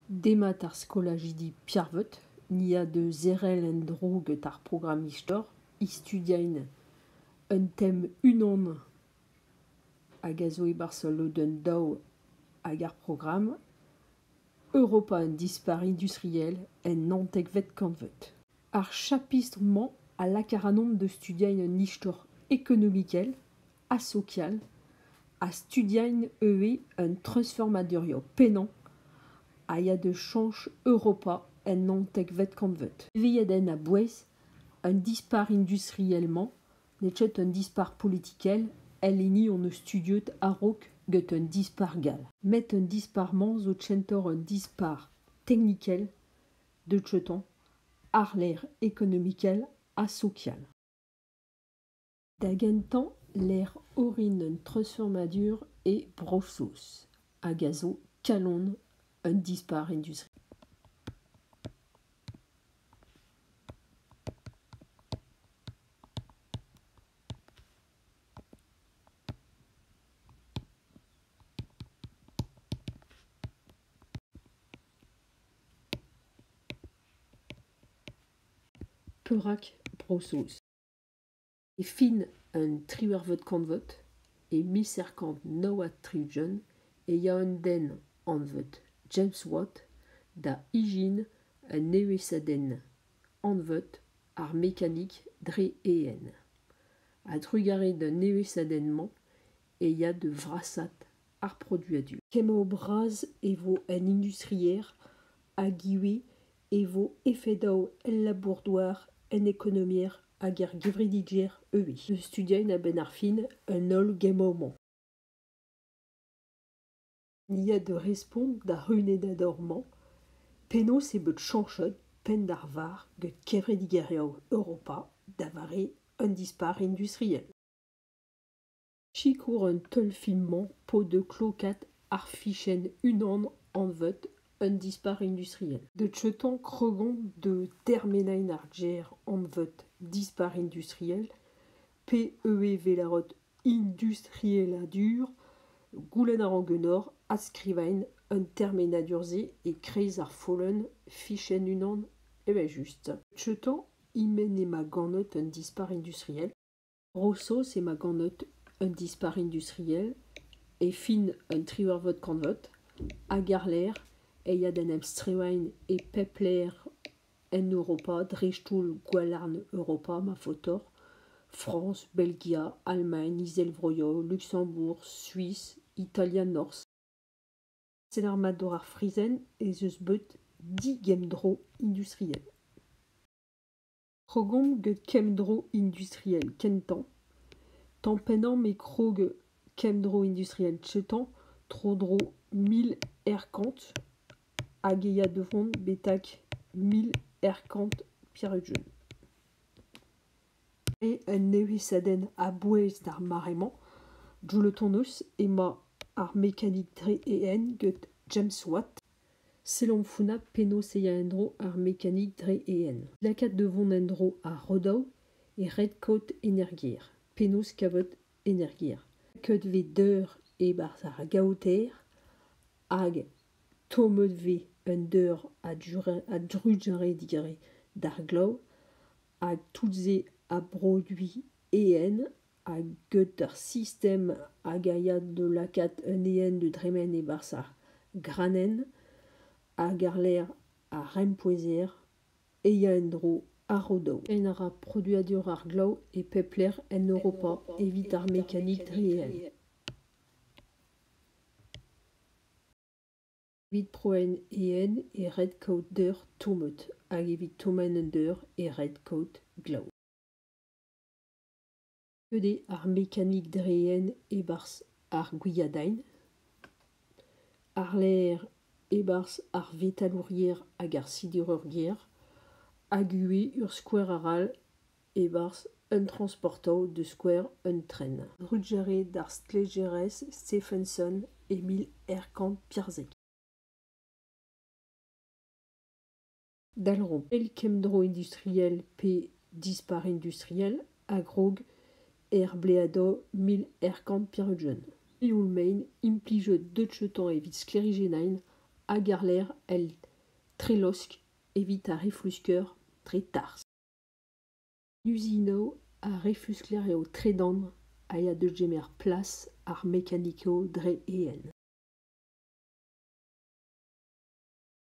Demat ar skolajidi Piarvot ni a deu sevel en-dro get ar programm istor istudiaén un tem unan hag a zo e-barzh ul lodenn daou ag ar programm Europa un dispac'h industriel en naontekvet kantved. Ar chapistr-mañ a laka ac'hanomp da studiañ un istor ekonomikel ha sokial, ha studiañ ivez un treuzfurmadurioù pennañ a ya da chañch Europa en naontekvet kantved. Evezhiadenn a-bouez un dispac'h industriel-mañ n'eo ket un dispac'h politikel el hini hon eus studiet a-raok get un dispac'h gall. Met un dispac'h-mañ zo kentoc'h un dispac'h teknikel de Treton, àr-lerc'h ekonomikel ha sokial. Da gentañ lec'h orin un treuzfurmadur e Bro-Saoz hag a zo kalon un dispar industri. Perak Bro-Saoz? E fin un triwec'hvet kantved, e mil seizh kant nav ha tri-ugent, e ya un den anvet James Watt da ijin un evezhiadenn anvet ar mekanik dre eeun. A-drugarez d'an evezhiadenn-mañ e ya da vrasaat ar produadur. Kemmañ bras e vo en industrier hag ivez e vo efedaoù el labour-douar, en ekonomiezh hag er gevredigezh ivez. Ne studiain a-benn ar fin un holl gemmañ-mañ. Ni a deu respont d'ar runennador-mañ penaos eo bet chañchet penn ar varr get kevredigeriañ Europa da vare un dispac'h industriel. Sikour an teulfilm-mañ paot da klokaat ar fichenn unan anvet Un dispac'h industriel. De Chetan Cregon de termenain ar gêr anvet Dispac'h industriel, PEV-lâret industrieladur, goulenn a ran ganeoc'h adskrivañ an termenadur-se e-kreiz ar follenn fichenn unan evel-just. De Chetan, e-menn emañ ganet un dispac'h industriel. Bro-Saoz emañ ganet un dispac'h industriel e fin un triwec'hvet kantved hag àr-lerc'h e ya d'en em strivañ e pep lec'h en Europa dreist-holl gwalarn Europa ma faotoc'h, Frañs, Belgia, Alamagn, Izelvroioù, Luksembourg, Suis, Italia, Norzh. Set ar mat war ar fraezhenn ez eus bet digemm-dro industriel. krogomp get kemdro industriel kentañ tamm pennañ met krog kemdro industriel kentañ tro-dro mil aerkant hag e ya da vont betek mil aerkant peurjeu. Eo un nevesadenn a-bouez d'ar mare-mañ Joule tonus emañ ar mekanik 3EN get James Watt. Sellomp founnañ penaos e ya en-dro ar mekanik dre EN. Lakaat da vont en-dro ar rodaou e red-kaout energiezh. Penaos kavout energiezh? Lakaet vez deur e-barzh ar gaoter hag tommet vez un deur a-drugarez d'ar glav hag tout-se a broduit Ehen ha get ar sistem hag a ya da lakaat un ehen da dremen e-barzh ar granenn hag àr-lerc'h ar rempouezher e ya en-dro ar rodoù. En a ra produadur ar glav e pep lec'h en Europa evit ar mekanik dre ehen. Evit prouenn ehen e red kaout deur tomet hag evit tommenn un deur e red kaout glav. Goude ar mekanik dreenn e-barzh ar gwiadaenn, àr-lerc'h e-barzh ar vetalourier hag ar sidereurier hag ivez ur skouer arall e-barzh un transportañv da skouer un tren. Drugarez d'ar stlejerez Stephenson e mil eizh kant pevarzek. Dalromp eil kemmdro industriel pe dispar industriel a-grog er bleadoù mil erkant peurunvan. Sioul-mein implijet deutsheton evit sklêrijennaén hag àr-lerc'h el trelosk evit ar reflusker dre tarzh. Usinoù ar reflusker eo tredan a ya da gemer plas ar mekanikoù dre eeun.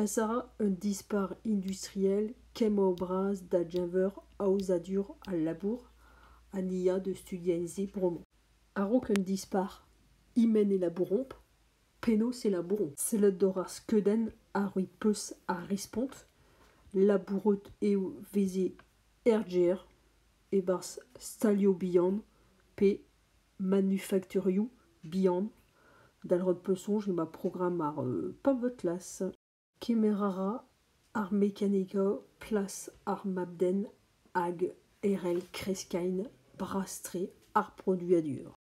Casa, un dispac'h industriel kemmañ-bras da geñver aozadur al labour ha ni a deu studiañ se bremañ. A-raok un dispac'h, e-menn e labouromp. Penaos e labouromp? Sellet doc'h ar skeudenn ha roit peuz ar respont. Labouret eo veze RGR e-barzh stalioù bihan pe manufakturioù bihan, dal rod peuzsoñj eo ma programm ar pavot-las. Kemer a ra ar mekanika plas ar mab-den hag herell kreskaén bras-tre ar produadur.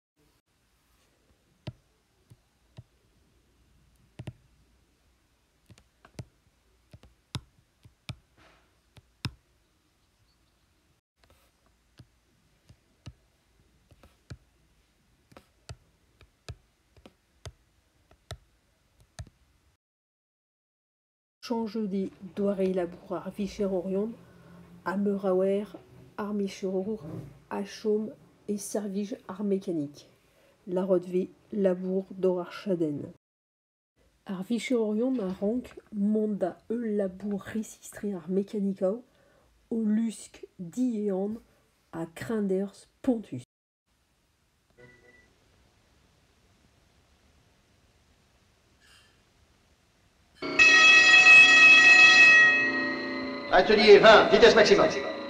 Chañjoù doare labour ar vicherourion ha meur a oer ar micherour a chom e servij ar mekanik, lârot 'vez labour doc'h ar chadenn. Ar vicherourion a rank mont da heul labour resistri ar mekanikaoù o lusk diehan ha kreñderzh spontus. Atelier 20, vitesse maximum.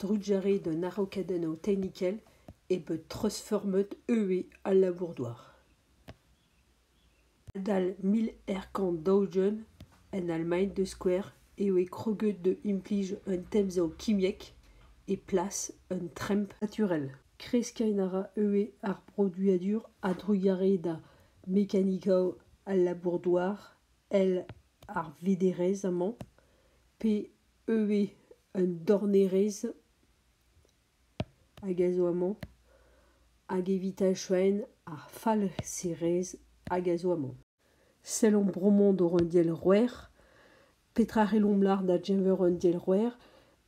Drugarez d'un araokadennoù tehnikel eo bet treuzfurmet ivez al labour-douar. Adal mil eizh kant daou-ugent, en Allemagne da skouer, e voe kroget da implij un temzav kimiek e plas un tremp naturel. Kreskiñ a ra ivez ar broduadur a-drugarez da mekanikaoù al labour-douar, èl ar vederezh amañ pe ivez un dornerez hag a zo amañ hag evit achouenn ar falserez hag a zo amañ. Sellomp bremañ doc'h un dielc'houer. Petra c'hellomp lâret da geñver un dielc'houer?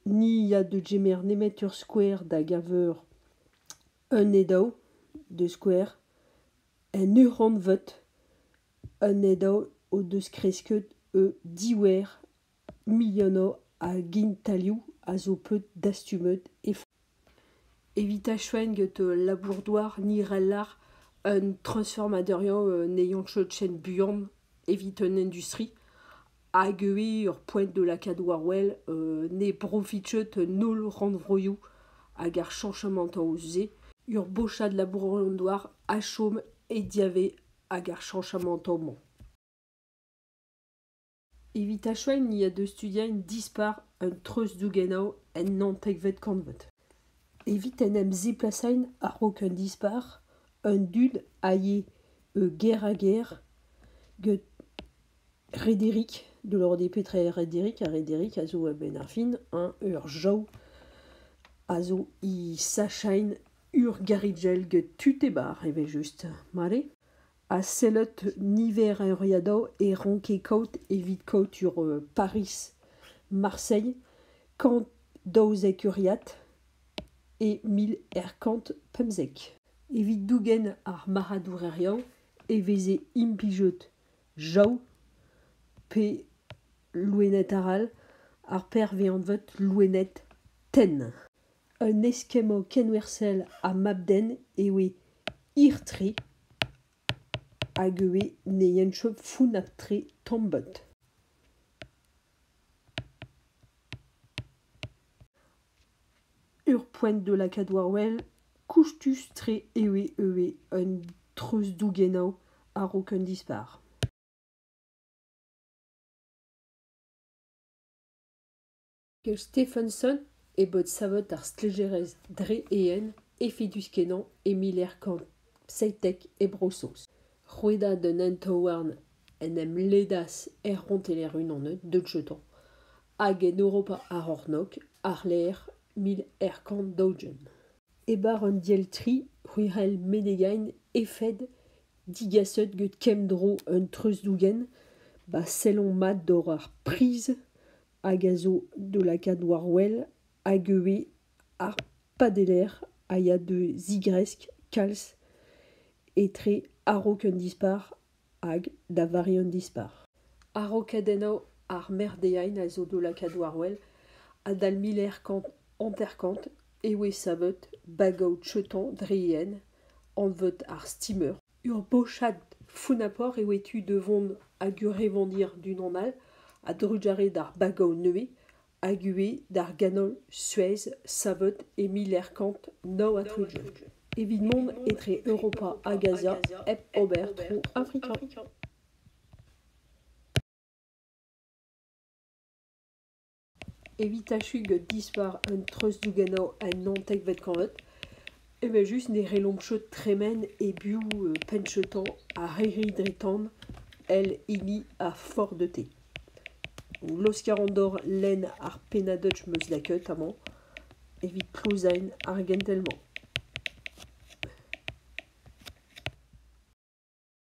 Ni ya da gemer nemet ur skouer da geñver un edaou deus skouer, un ur-rannvod, un edaou o deus kresket o diouer Milhanov hag Intalioù a zo bet dastumet evit achueñ gant labour-douar Nirellar un transformaderiañ anezhañ chotchenn buan evit un industri hag ivez ur poent da lakaat war-wel ne brofit ket an holl rannvroioù hag ar chañchamantoù se. Ur bochad labour-douar a chom e diavaez ag ar chañchamantoù-mañ. Evit achuiñ ni a deu studiañ dispar un treuzdougenaou en naontekvet kantved. Evit en em ziplasañ a-raok un dispac'h, an dud a yee ger-ha-ger get Rederick de Lordé petre Rederick? Ha Rederick a zo a-benn ar fin hein ur jav a zo he sachañ ur garrigell get tud e bar evel-just mare. ha sellet niver euriadoù e ranke kaout evit kaout sur Pariz, Marseille kant daouzek euriad e mil eizh kant pemzek. Evit dougen ar marc'hadourezhioù e veze implijet jav pe loened arall, ar perv anvet loened tenn. Un eskemmañ kenwerzhel ha mab-den eo eo hir-tre hag eo eo ne yenchom founnañ-tre tomm-bont. Ur poent da lakaat war-wel koustus-tre eo eo eo un treuzdougenaou a-raok un dispac'h. Gant Stephenson e bod savet ar stlejerezh dre-eeun efedus-kenañ e miler kant seitek e Bro-Saoz. Rouedad un hent-houarn en em ledas er ronteller unanet de Jetan hag en Europa ar C'hornôg àr-lerc'h mil eizh kant daou-ugent. E bar an diell-tri c'hwirel Menegain efed digaset gant kemdro un treuzdougen 'ba sellomp mat doc'h ar priz hag a zo d'o lakaat war-wel hag ivez ar padeller a ya da zigresk kalz etre a-raok un dispac'h hag da vare un dispac'h. A-raokadennoù ar merdeain a zo d'o lakaat war-wel adal mil eizh kant hanter-kant e voe savet bagoù-cheton dre yen anvet ar steamer Ur bochad founapoc'h eo e tu da vont hag ur evander d'unan all a-drugarez d'ar bagav nevez hag ivez d'ar ganol Suez savet e mil eizh kant nav ha tri-ugent evit mont etre Europa hag Azia hep ober tro Afrika. Evit achuiñ dispar un treuzdougennoù en naontekvet kantved evel-just ne c'hellomp chom tremen e-biou penn-cheutañ ha erriñ dre tan èl hini ar Ford-E-T. Laoskal an dor lenn ar pennad-dutch 'm eus lakaet amañ evit klozaén ar gentel-mañ.